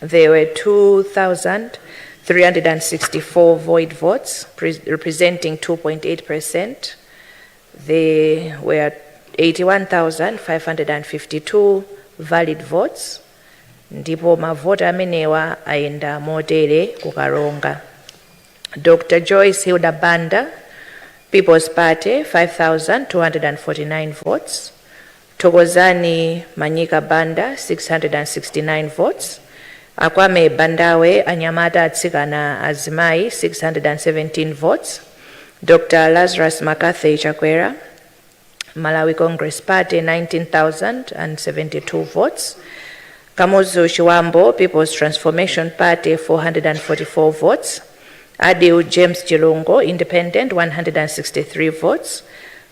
There were 2,364 void votes, pres- representing 2.8%. There were 81,552 valid votes, ndipo mavoti amenewa ayenda motere kukaronga. Dr. Joyce Hilda Banda, People's Party, 5,249 votes. Thokozani Manyika Banda 669 votes, Akwame Bandawe Anyamata Atsikana Azimai 617 votes, Dr Lazarus Maccarthy Chakwera Malawi Congress Party 19,072 votes, Kamuzu Chiwambo Peoples Transformation Party 444 votes, Adil James Chilungo Independent 163 votes,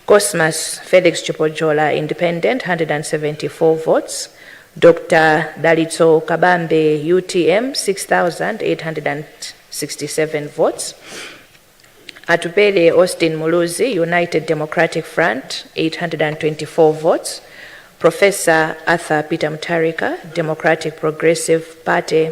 Cosmas Felix Chipojola, Independent, 174 votes, Dr Dalitso Kabambe, utm, 6,867 votes, Atupele Austin Muluzi, United Democratic Front, 824 votes, Professor Arthur Peter Mutharika, Democratic Progressive Party,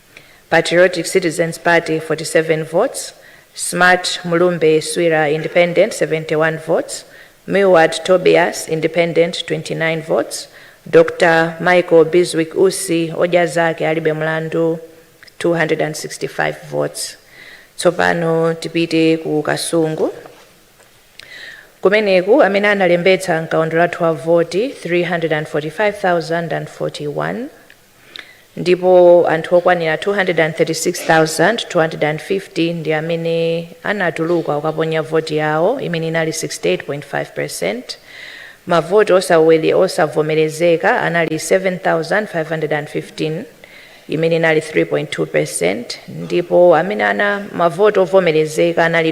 Patriotic Citizens Party 47 votes, Smart Mulumbe Swira Independent 71 votes, Milward Tobias Independent 29 votes, Dr Michael Bizwick Usi Odya Zake Alibe Mlandu 265 votes. Tsopano tipite ku Kasungu kumeneku amene analembetsa mkaundulatu wa voti 345,041 ndipo anthu okwanira 236,250 ndi amene anatuluka ukaponya voti yawo imene inali 68.5%. Mavoti osavomerezeka anali 7,515 imene inali 3.2% ndipo amene ana mavoti ovomerezeka anali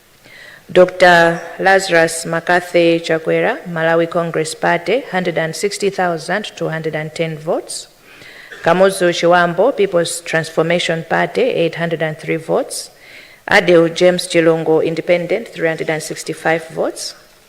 Dr Lazarus Mccarthy Chakwera Malawi Congress Party 160,210 votes Kamuzu Chiwambo Peoples Transformation Party 803 votes Adew James Chilungu Independent 365 votes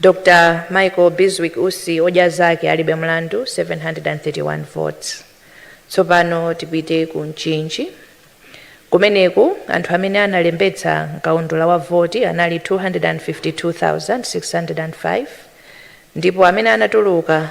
Dr Michael Bizwick Usi odya zake alibe mlandu 731 votes. Tsopano tipite ku Mchinji. Kumeneku anthu amene analembetsa mkaundula wa voti anali 252,605 ndipo amene anatuluka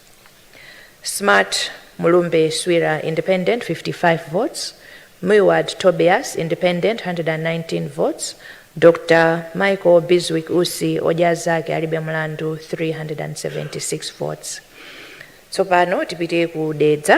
Smart Mulumbe Swira, Independent, 55 votes, Milward Tobias, Independent, 119 votes, Dr Michael Bizwick Usi, Odya Azake Alibe Mulandu, 376 votes. Tsopano tipite ku Dedza.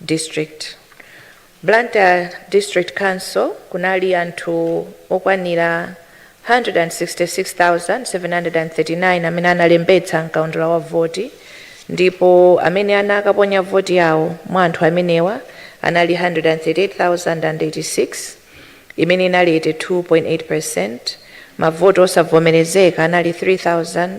district blantyre district council kunali anthu okwanira 166,739 amene analembetsa mkaundula wa voti ndipo amene anakaponya voti yawo mwa anthu amenewa anali 138,086 imene inali 82.8 percent mavoti osavomerezeka anali 3,000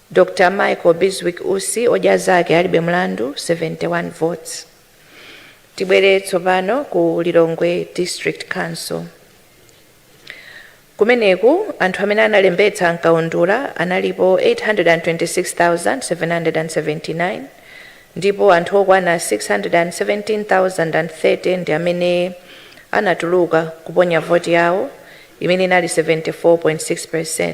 Dr. Michael Bizwick Usi, odya zake alibe mlandu, 71 votes. Tibwere tsopano ku Lilongwe District Council. Kumeneku anthu amene analembetsa m'kaundula analipo 826,779 ndipo anthu okwana 617,030 ndi amene anatuluka kuponya voti yawo imene inali 74.6%.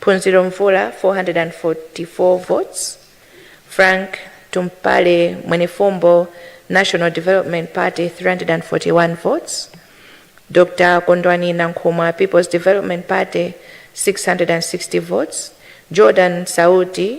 Phunziro Mvula 444 votes, Frank Tumpale Mwenefumbo National Development Party 341 votes, Dr Kondwani Nankhumwa People's Development Party 660 votes, Jordan Sauti,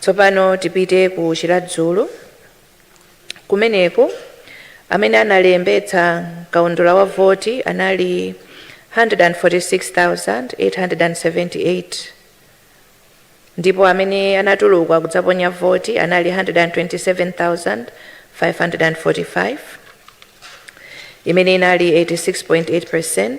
Tsopano tipite ku Chiradzulu. Kumeneku amene analembetsa kaundula wa voti anali 146,878 ndipo amene anatuluka kudzaponya voti anali 127,545 imene inali 86.8%.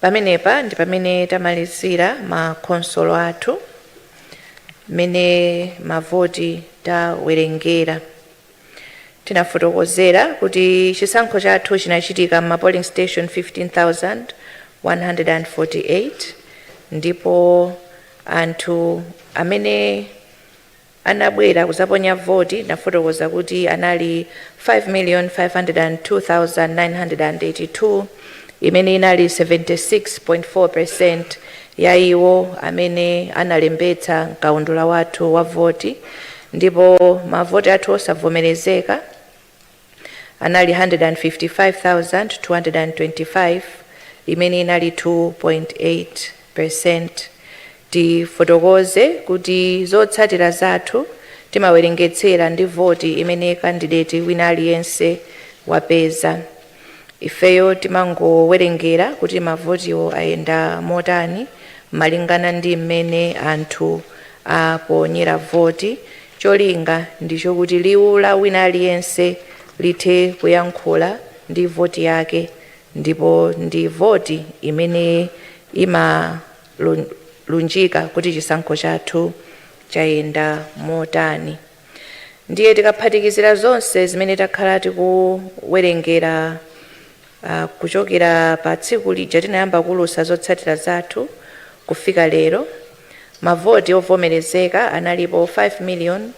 pamenepa ndi pamene tamalizira ma khonsolo athu mmene mavoti tawerengera tinafotokozera kuti chisankho chathu chinachitika mma polling station 15148 ndipo anthu amene anabwera kuzaponya voti ndinafotokoza kuti anali 5,502,982 imene inali 76.4% ya iwo amene analembetsa mkaundula wathu wa voti ndipo mavoti athu osavomerezeka anali 155,225 imene inali 2.8%. Tifotokoze kuti zotsatira zathu timawerengetsera ndi voti imene kandideti wina aliyense wapeza. Ifeyo timangowerengera kuti mavotiwo ayenda motani malingana ndi mmene anthu aponyera voti Cholinga ndicho kuti liwu la wina aliyense lithe kuyankhula ndi voti yake ndipo ndi voti imene imalunjika kuti chisankho chathu chayenda motani. Ndiye tikaphatikizira zonse zimene takhala tikuwerengera Kuchokera pa tsiku lija tinayamba kuulutsa zotsatira zathu kufika lero, mavoti ovomerezeka analipo 5 million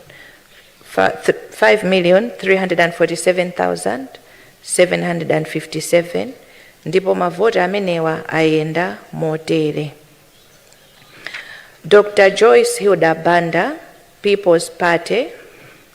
fa, th, 5,347,757 ndipo mavoti amenewa ayenda motere. Dr Joyce Hilda Banda, People's Party,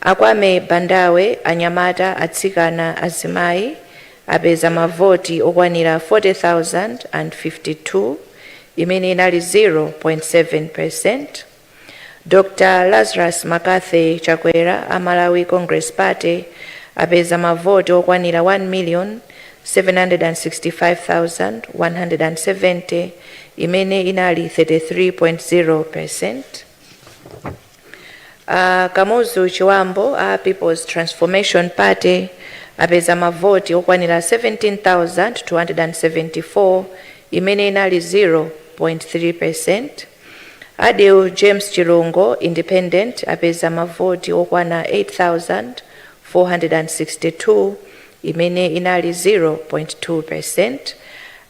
Akwame Bandawe, Anyamata, Atsikana, Azimayi apeza mavoti okwanira 40,052 imene inali 0.7 percent. Dr Lazarus McCarthy Chakwera a Malawi Congress Party apeza mavoti okwanira 1,765,170 imene inali 33.0 percent. A Kamuzu Chibambo a Peoples Transformation Party apeza mavoti okwanira 17,274 imene inali 0.3%. Adil James Chilungo, Independent, apeza mavoti okwana 8,462 imene inali 0.2%.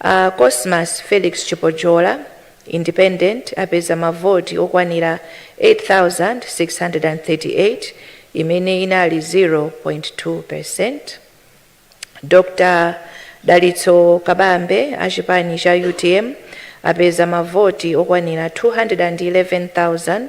A Cosmas Felix Chipojola, Independent apeza mavoti okwanira 8,638 imene inali 0.2 percent. Dr Dalitso Kabambe a chipani cha UTM apeza mavoti okwanira 211,464.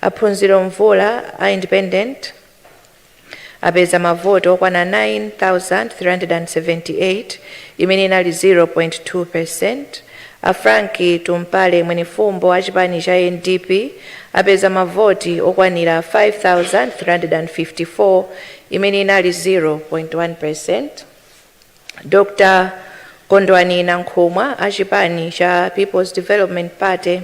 A Phunziro Mvula a Independent apeza mavoti okwana 9,378 imene inali 0.2 percent, a Frank Tumpale Mwenifumbo a chipani cha NDP apeza mavoti okwanira 5,354 imene inali 0.1 percent, Dr Kondwani Nankhumwa a chipani cha Peoples Development Party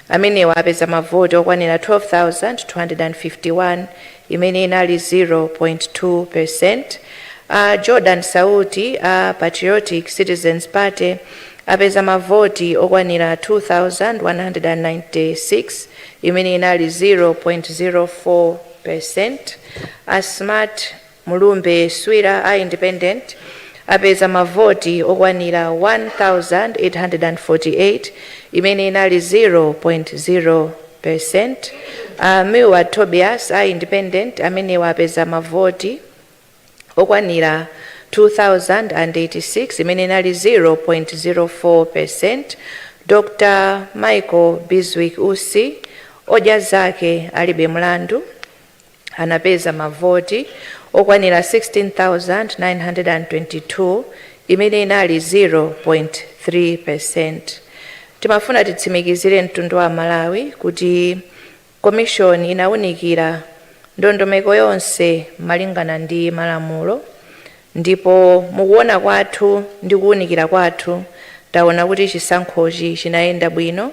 amenewa apeza mavoti okwanira 12,251 imene inali 0.2 percent. A Jordan Sauti a Patriotic Citizens Party apeza mavoti okwanira 2,196 imene inali 0.04 percent. A Smart Mulumbe Swira a independent apeza ma voti okwanira 1,848 imene inali 0.0%. A Milward Tobias a independent amenewa apeza ma voti okwanira 2,086 imene inali 0.04%. Dr Michael Bizwick Usi, Odya Zake Alibe Mlandu. anapeza mavoti okwanira 16,922, imene inali 0.3 peresenti. Timafuna titsimikizire mtundu wa Malawi kuti Komishoni inawunikira ndondomeko yonse malingana ndi malamulo ndipo mukuwona kwathu ndi kuwunikira kwathu tawona kuti chisankhochi chinayenda bwino.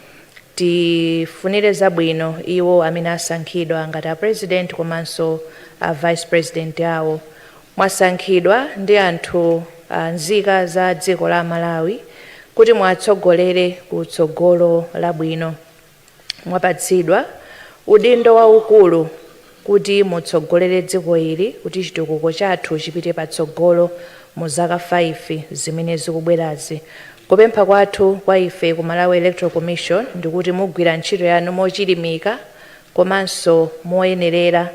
Tifunire zabwino iwo amene asankhidwa ngati a President komanso a Vice President awo. Mwasankhidwa ndi anthu a nzika za dziko la Malawi kuti muwatsogolere ku tsogolo labwino. Mwapatsidwa udindo waukulu. kuti mutsogolere dziko ili kuti chitukuko chathu chipite patsogolo mu zaka 5 zimene zikubwerazi. Kupempha kwathu kwa ife ku Malawi Electoral Commission ndikuti mugwira ntchito yanu mochilimika komanso moyenerera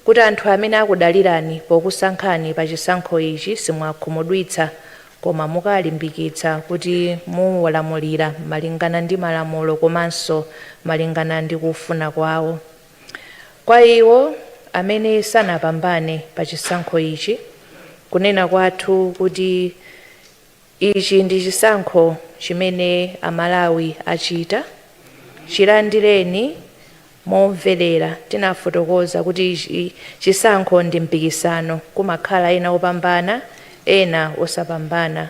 kuti anthu amene akudalirani pokusankhani pa chisankho ichi simuwakhumudwitsa koma mukalimbikitsa kuti muwalamulira malingana ndi malamulo komanso malingana ndi kufuna kwawo. Kwa iwo amene sanapambane pa chisankho ichi, kunena kwathu kuti ichi ndi chisankho chimene a Malawi achita, chilandireni momvelera. Tinafotokoza kuti chisankho ndi mpikisano, kumakhala ena opambana ena osapambana.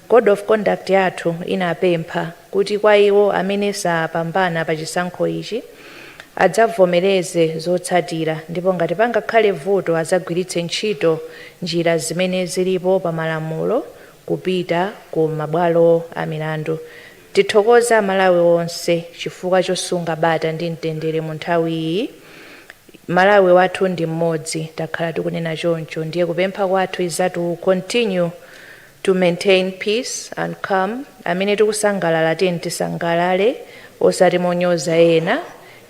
Code of Conduct yathu inapempha kuti kwa iwo amene sapambana pa chisankho ichi adzavomereze zotsatira ndipo ngati pangakhale vuto adzagwiritse ntchito njira zimene zilipo pa malamulo kupita ku mabwalo a milandu. Tithokoza a Malawi onse chifukwa chosunga bata ndi mtendere mu nthawi iyi. Malawi wathu ndi mmodzi takhala tikunena choncho ndiye kupempha kwathu is that we will continue. to maintain peace and calm amene tikusangalala tiyeni tisangalale osati monyoza ena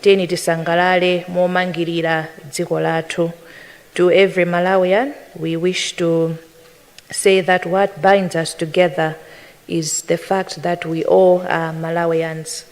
tiyeni tisangalale momangilira dziko lathu to every Malawian we wish to say that what binds us together is the fact that we all are Malawians.